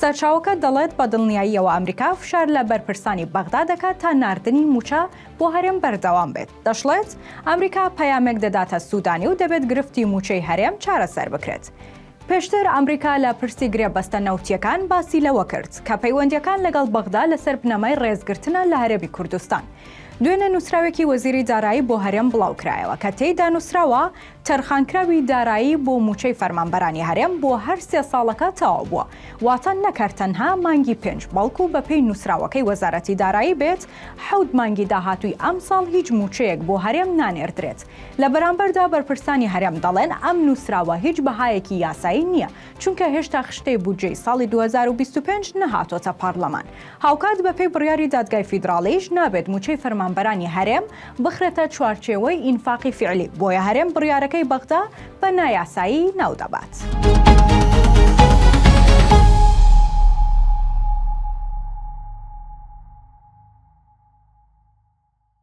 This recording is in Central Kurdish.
سەرچاوەکە دەڵێت بە دڵنیاییەوە ئەمریکا فشار لە بەرپرسانی بەغدا دەکات تا ناردنی مووچە بۆ هەرێم بەردەوام بێت. دەشڵێت، ئەمریکا پەیامێک دەداتە سوودانی و دەبێت گرفتی مووچەی هەرێم چارەسەر بکرێت. پێشتر ئەمریکا لە پرسی گرێبەستە نەوتییەکان باسی لەوە کرد، کە پەیوەندییەکان لەگەڵ بەغدا لەسەر بنەمای ڕێزگرتنە لە هەرێمی کوردستان. دوێنێ نووسراوێکی وەزیری دارایی بۆ هەرێم بڵاوکرایەوە، کە تێیدا نووسراوە، تەرخانکراوی دارایی بۆ مووچەی فەرمانبەرانی هەرێم بۆ هەر سێ ساڵەکە تەواو بووە، واتە نەک هەر تەنها مانگی پێنج، بەڵکو بەپێی نووسراوەکەی وەزارەتی دارایی بێت حەوت مانگی داهاتووی ئەمساڵ هیچ مووچەیەک بۆ هەرێم نانێردرێت. لە بەرامبەردا بەرپرسانی هەرێم دەڵێن ئەم نووسراوە هیچ بەهایەکی یاسایی نییە، چونکە هێشتا خشتەی بودجەی ساڵی دوو هەزار و بیست و پێنج نەهاتۆتە پارلەمان، هاوکات بەپێی بڕیاری دادگای فیدراڵیش نابێت مووچەی فەرمانبەرانی هەرێم بخرێتە چوارچێوەی ئینفاقی فیعلی، بۆیە هەرێم بڕیارەکەی بەغدا بە نایاسایی ناودەبات.